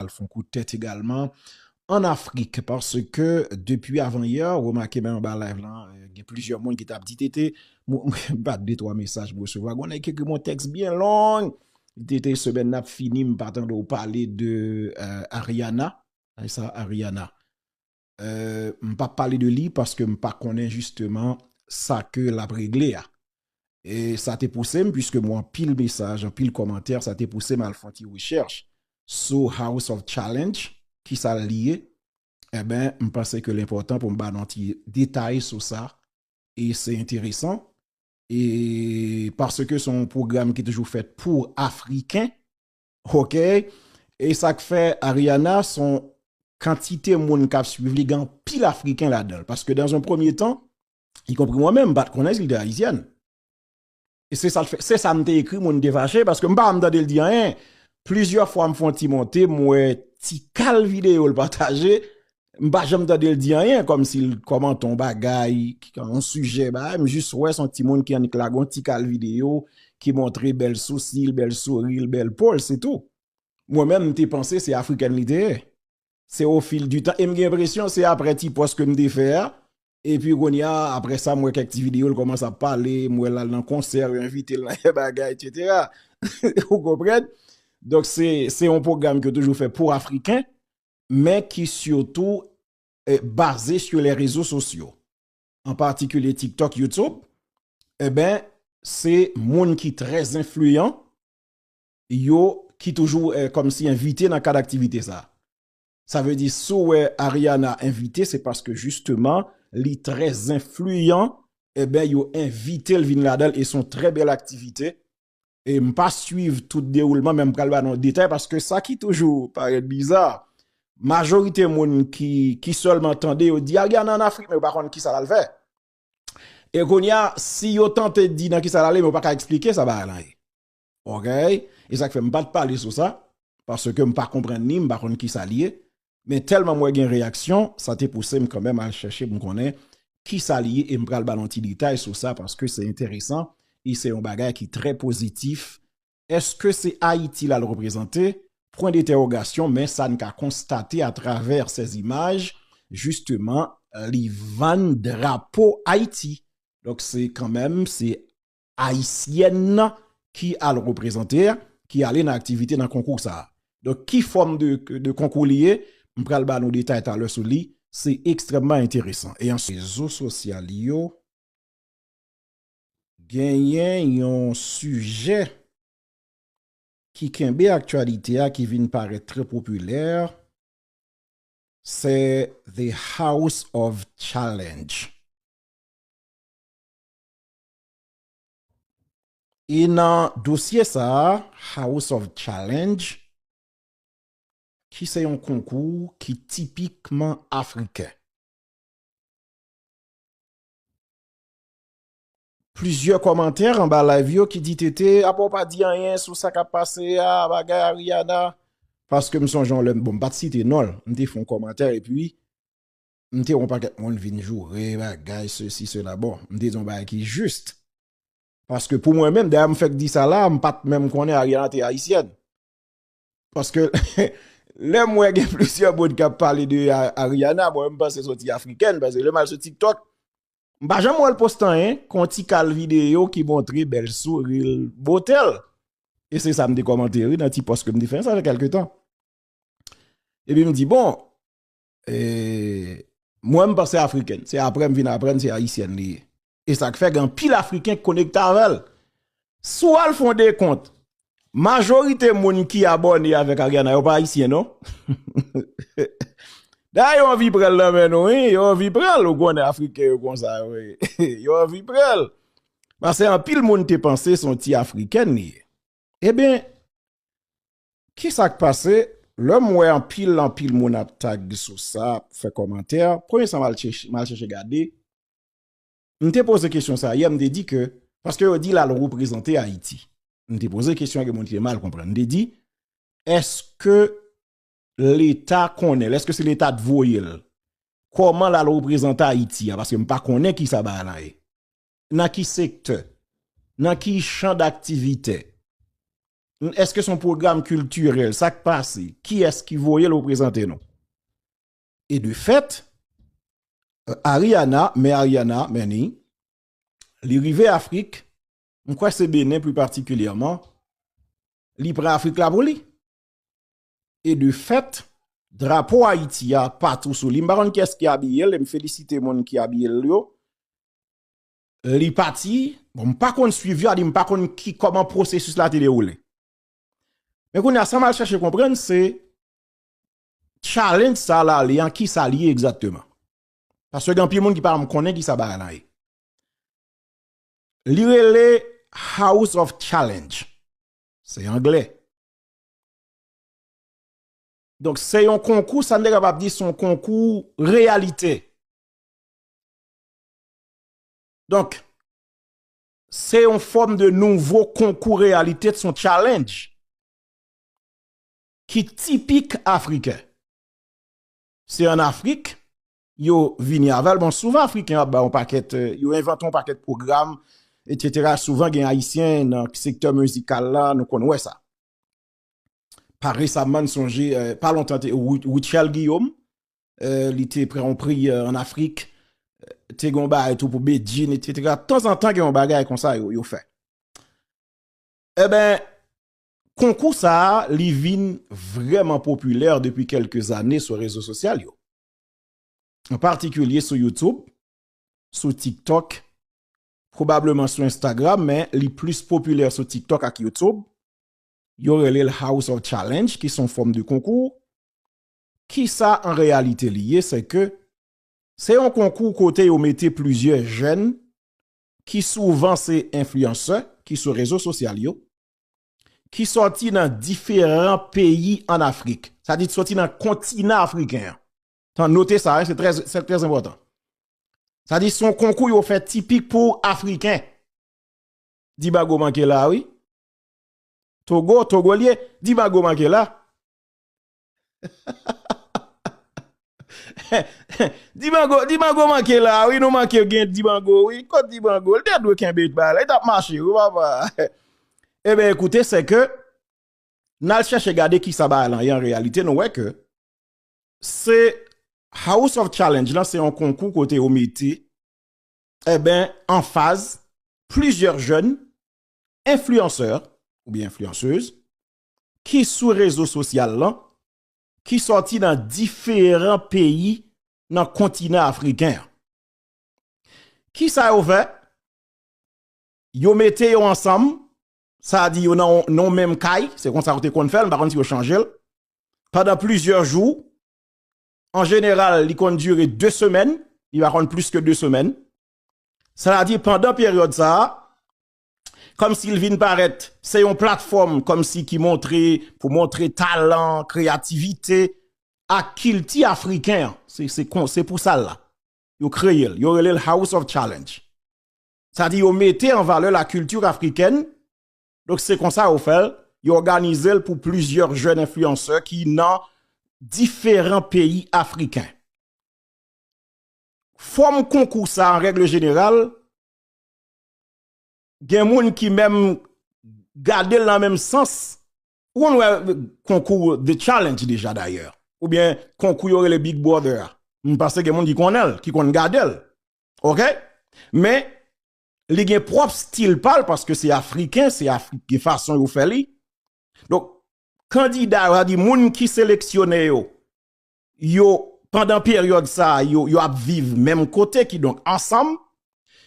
al fon kout tèt egalman an Afrik paske depi avan yè remake menm anba live lan gen plizyè moun ki tap di TT mwen bat de 3 mesaj mwen resevwa gon nèg ki ekri m yon tèks byen long TT semèn nan ap fini m pa tande w pale de Ariana sa Ariana. M pap pale de li paske m pa konnen jisteman sa ke l ap regle a. E sa te pouse m, puiske m wè anpil mesaj, anpil kòmantè, sa te pouse m al fè yon ti rechèch sou House of Challenge, ki sa l ye. Enben, m panse ke l enpòtan pou m ba nou yon ti detay sou sa. E se enteresan. E paske se yon pwogram ki toujou fèt pou Afriken, Ok e sak fè Ariana son kantite moun kap swiv li gen anpil afriken ladanl paske dans un premier temps y compris mwen menm m pat konnen sil te ayisyèn e se sal fè se sam te ekri moun te fache paske m pa janm tandel di anyen plizyè fwa m fon ti monte m wè tikal videyo l pataje M pa janm tande l di anyen kòm si l kòmante yon bagay, yon sijè bagay, m jis wè son ti moun ki annik lage yon ti kal videyo ki montre bèl sousi l, bèl souri l, bèl po l, se tou. Mwen menm m te panse se afrikèn li te ye. Se o fil di tan e m gen enpresyon se aprè ti pòs ke m te fè a, epi kounye a aprè sa m wè kèk ti videyo l kòmanse ap pale, m wè l al nan konsè, yo envite l nan kèk bagay etsetera. Ou konprann? Donk se yon pwogram ki yo toujou fè pou afriken, men ki sitou baze sou lè rezo sosyo, an patikilye TikTok, YouTube, eben se moun ki trè zenfliyan yo ki toujou kòm si envite nan kad aktivite sa. Sa vle di si w wè Ariana envite se paske jisteman li trè zenfliyan eben yo envite l vin ladan l e son trè bèl aktivite e m pa swiv tout dewoulman men m pral ba nou detay paske sa ki toujou parèt biza majorite moun ki sèlman tande yo di al gana an Afrik men yo pa konn kisa l al fè e kounye a si yo tante di nan kisa l ale men yo pa ka eksplike sa bagay lan ye ok e sa k fè m pa t pale sou sa paske m pa konprann ni m pa konn kisa l ye Men tèlman m wè gen reyaksyon, sa te pouse m kanmèm al chèche pou m konnen ki sa li ye e m pral ba l yon ti detay sou sa paske se enteresan e se yon bagay ki trè pozitif. Eske se Ayiti l al reprezante? Pwen detèwogasyon men sa n ka konstate atravè sèz imaj jisteman li vann drapo Ayiti. Donk se kanmèm se Ayisyèn ki al reprezante a, ki ale nan aktivite nan konkou sa a. Donk ki fòm de konkou li ye, m pral ba nou detay talè sou li, se ekstrèmman enteresan. E answit. Rezo sosyal yo genyen yon sijè ki kenbe aktyalite a ki vin parèt trè popilè, se The House of Challenge. E nan dosye sa a, House of Challenge, ki se yon konkou ki tipikman afriken, plizyè kòmantè anba live yo ki di TT apa w pa di anyen sou sa k ap pase a, bagay Ariana, paske m sonje yon lè, bon m pa t site non l, m te fè yon kòmantè epi m te wè yon pakèt moun vin joure bagay sesi sela bon m te di yon bagay ki jist paske pou mwen menm dèyè m fèk di sa la m pat menm konnen Ariana te ayisyèn paske lè m wè gen plisyè moun k ap pale de Ariana mwen menm m panse soti afrikèn paske lè m al sou tiktok m pa janm wè l poste anyen kon ti kal videyo ki montre bèl souri l bote l e se sa m te kòmante wi nan ti pòs ke m te fè sa fè kèlke tan epi m di bon. Eee. Mwen m panse afriken. Se apre m vin aprann se ayisyèn li ye. E sa k fè gen anpil afriken k konekte avè l. Si w al fè yon dekont, majorite moun ki abòne avèk Ariana yo pa ayisyen non. Dayè yo anvi pran l nan men nou wi. Yo anvi pran l. Ou konnen afriken yo konsa yo ye. Yo anvi pran l. Pase anpil moun te panse se yon ti afrikèn li ye. Eben. Kisak pase lèm wè anpil anpil moun ap tag sou sa ap fè kòmantè premye sa mal chèche gade m te poze kesyon sa yè m te di ke paske yo di lal reprezante ayiti m te poze kesyon gen moun ki te mal konprann m te di eske leta konnen l eske se leta t voye l kòman lal reprezante ayiti a paske m pa konnen kisa bagay la ye nan ki sektè nan ki chan daktivitè Eske son program kiltirel? Sak pase? Ki es ki voye lo prezante nou? E de fet, Ariana, mè Ariana, Meni, li rive Afrik, m kwe se Benen pli patikilyaman, li pran Afrik la pou li. E de fet, drapo Ayiti a patou sou li. M pa konn ki es ki abiye l, e m felisite moun ki abiye l yo. li pati, bon m pa konn swiv yo, a di m pa konn ki kòman pwosesis la te dewoule. Men kounye a sa m al chache konprann se challenge sa l ale an ki sa l ye egzakteman. Paske gen anpil moun ki pa janm konnen ki sa bagay lan ye. Li rele house of challenge. Se angle. Donk se yon konkou sa n te kapab di se yon konkou reyalite. Donk, se yon fòm de nouvo konkou reyalite t son challenge ki tipik Afriken. Se an Afrik yo vini avèl. Bon, souvan Afriken ap ba yon pakèt, yo envante yon pakèt pwogram, etsetera. Souvan gen Ayisyen nan sektè mizikal la, nou konn wè sa. Pa resamman, m sonje, pa lontan te Rutshelle Guillaume, li te pran yon priyè an Afrik, te gen yon bagay tou pou Bedjine, et cetera. Tan zan tan gen yon bagay kon sa yo, yo fè. E ben, konkou sa a, li vin vreman popilè depi kelke zane sou rezo sosyal yo. An patikilye sou YouTube, sou TikTok, probableman sou Instagram, men li plis popilè sou TikTok ak YouTube. Yo rele l House of Challenge, ki son fòm de konkou. Kisa an reyalite li ye se ke se yon konkou kote yo mete plizyè jèn ki souvan se enfliyansè ki sou rezo sosyal yo ki sòti nan diferan peyi an Afrik sa di sòti nan kontinan afriken an tan note sa se trè enpòtan sa di son konkou yo fè tipik pou afriken Dibago manke la wi Togo, Togo li ye Dibago manke la Dibango Dibango manke la wi nou manke gen Dibango wi kot Dibango li te dwe kenbe bal la li tap mache wi papa Eben ekoute se ke n al chèche gade kisa bagay lan ye an reyalite nou wè ke se House of Challenge lan se yon konkou kote yo mete Eben anfaz plizyè jèn enfliyansè oubyen enfliyansez ki sou rezo sosyal lan ki sòti nan diferan peyi nan kontinan afriken an. Ki sa yo fè? Yo mete yo ansanm, sa a di yo nan yon menm kay, se kon sa yo te konn fè l, m pa konn si yo chanje l, pandan plizyè jou, an jeneral li konn dire 2 semèn, li pa konn plis ke 2 semèn, sa a di pandan peryòd sa a, kòmsi l vin parèt se yon platfòm kòmsi ki montre pou montre talan, kreyativite ak kilti afriken an, se pou sa l la, yo kreye l, yo rele l House of Challenge. Sa di yo mete an valè la kilti afrikèn, donk se konsa yo fè l, yo òganize l pou plizyè jèn enfliyansè ki nan diferan peyi afriken. Fòm konkou sa an règle jeneral, gen moun ki menm gade l nan menm sans, ou konn wè konkou The Challenge deja dayè, oubyen konkou yo rele Big Brother a, m panse gen moun ki konnen l, ki konn gade l, ok, men li gen pwòp stil pa l, paske se Afriken, se Afrik gen fason yo fè li, donk kandida yo, sa di moun ki seleksyone yo, yo pandan peryòd sa yo yo ap viv menm kote ki donk ansanm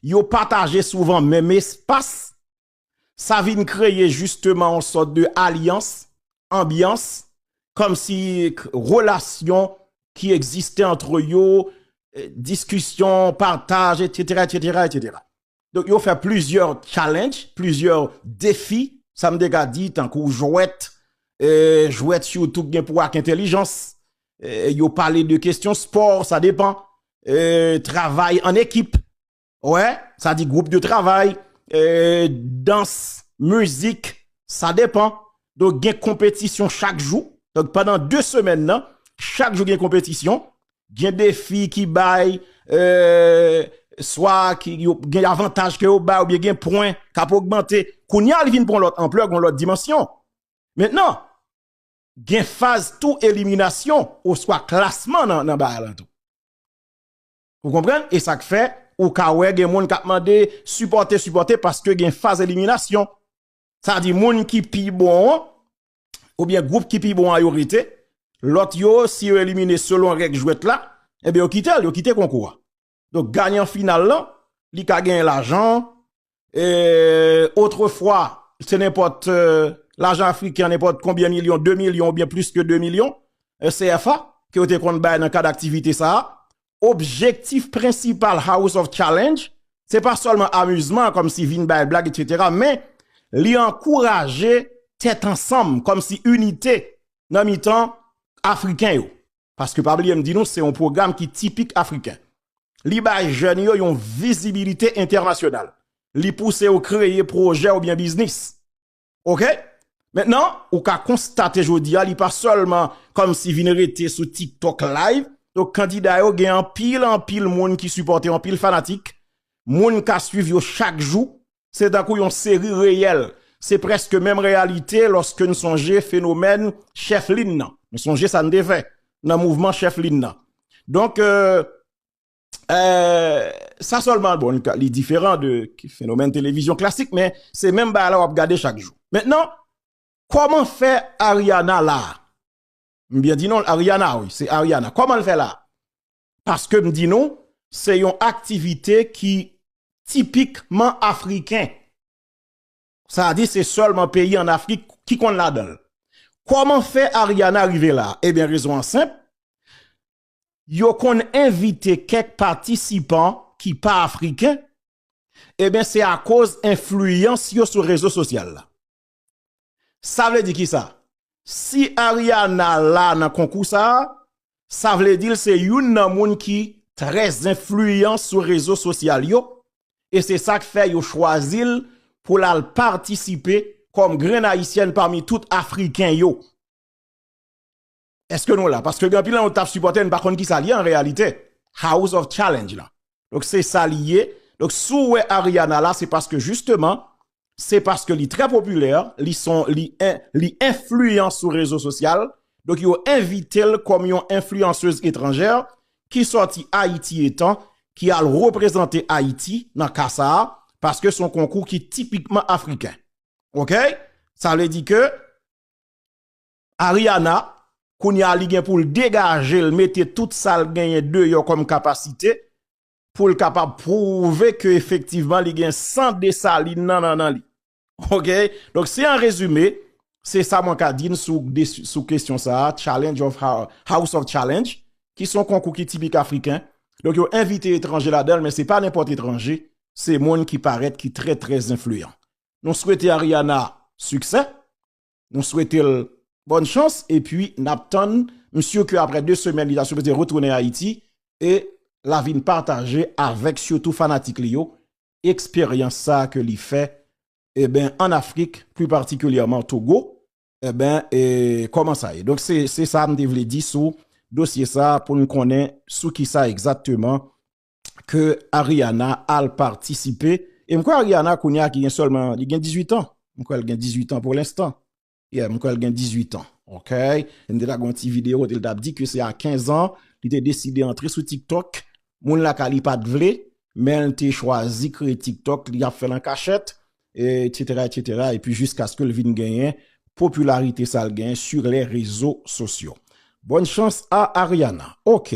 yo pataje souvan menm espas sa vin kreye jisteman yon sòt de alyans anbyans kòm si relasyon ki egziste antre yo diskisyon pataj etsetera etsetera etsetera. Donk yo fè plizyè challenge, plizyè defi, sa m te ka di tankou jwèt, jwèt sitou ki gen pou wè ak entelijans, yo pale de kesyon spò, sa depan, travay an ekip, wè, sa di gwoup de travay, dans, mizik, sa depan, Donk gen konpetisyon chak jou. Donk pandan 2 semèn nan, chak jou gen konpetisyon. Gen defi ki bay, eee, swa ki gen avantaj ke yo bay oubyen gen pwen k ap ogmante. Kounye a li vin pran lòt anplè, gon lòt dimansyon. Mentnan, gen faz tou eliminasyon oswa klasman nan bagay lan tou. Ou konprann? E sa k fè, ou ka wè gen moun k ap mande sipòte, sipòte paske gen faz eliminasyon. Sa di moun ki pi bon an, ou byen group ki pi bon an yo rete, lot yo si yo elimine selon reg jwet la, e byen yo kite l, yo kite konkou a. Donk ganyan final lan, li ka genyen lajan, e otre fwa, se nenpot lajan afriken, nenpot konbyen milyon, 2 milyon ou byen plis ke 2 milyon, CFA, ke yo te konn bay nan kad aktivite sa a, objektif prensipal House of Challenge se pa sèlman amizman kòm si vin bay blag etc men li ankouraje tèt ansanm kòm si inite nan mitan Afriken yo paske pa bliye m di nou se yon pwogram ki tipik Afriken li bay jèn yo yon vizibilite entènasyonal li pouse yo kreye pwojè oubyen biznis. Ok, mentnan ou ka konstate jodi a li pa selman kom si vin rete sou tiktok live, yo kandida yo gen anpil anpil moun ki sipote anpil fanatik, moun ka swiv yo chak jou, se tankou yon seri reyel, se preske menm reyalite loske n sonje fenomen chef linn nan, n sonje sa n te fè nan mouvman chef linn nan. Donk. Sa sèlman, bon, li diferan de fenomen televizyon klasik, men se menm ba la wap gade chak jou. Mètnen, kòman fè Ariana la? M byen di non, Ariana, wi, se Ariana. Kòman l fè la? Paske m di nou, se yon aktivite ki tipikman afriken. Sa a di, se sèlman peyi an Afrik ki konn ladan l. Kòman fè Ariana rive la? Ebyen, eh rezon an senp, yo konn envite kèk patisipan ki pa Afriken, eben se akoz enfliyans yo sou rezo sosyal la. Sa vle di kisa? Si Ariana la nan konkou sa, sa vle di l se youn nan moun ki trè enfliyan sou rezo sosyal yo, e se sa k fè yo chwazi l pou l al patisipe kòm grenn Ayisyèn pami tout Afriken yo. Eske nou la? Paske gen anpil nan nou tap sipòte, nou pa konn ki sa li ye an reyalite. House of challenge la. Donk se sa li ye. Donk si w wè Ariana la, se paske jisteman, se paske li trè popilè, li son, li enfliyan sou rezo sosyal. Donk yo envite l kòm yon enfliyansez etranjè ki sòti Ayiti etan, ki al reprezante Ayiti nan ka sa a, paske son konkou ki tipikman afriken. Ok? Sa vle di ke... Ariana kounye a li gen pou l degaje l mete tout sa l genyen deyò kòm kapasite pou l kapab pwouve ke efektivman li gen san Desalin nan nan nan li. Ok, donk si an rezime, se sa mwen ka di n sou kesyon sa a, challenge of house of challenge, ki son konkou ki tipik afriken, donk yo envite etranje ladan l men se pa nenpòt etranje, se moun ki parèt ki trè trè zenfliyan. Nou swete Ariana siksè. Nou swetel bòn chans epi nap tann misye ke aprè 2 semèn li ta sipoze retounen Ayiti e la vin pataje avèk sitou fanatik li yo eksperyans sa ke li fè eben an Afrik pli patikilyèman Togo eben e kòman sa ye. Donk se se sa m te vle di sou dosye sa pou n konnen sou kisa egzakteman ke Ariana al patisipe, e m kwè Ariana kounye a ki gen sèlman, li gen 18 an, m kwè l gen 18 an pou lenstan, yeah, m kwè l gen 18 an, ok, m te ta gade yon ti video kote l tap di ke se a 15 an li te deside antre sou tiktok, moun lakay li pat vle, men l te chwazi kreye tiktok, li ap fè l an kachèt, etc, etc, epi jiskaske l vin genyen popilarite sa l genyen sur les rezo sosyo. Bonne chance a Ariana, ok.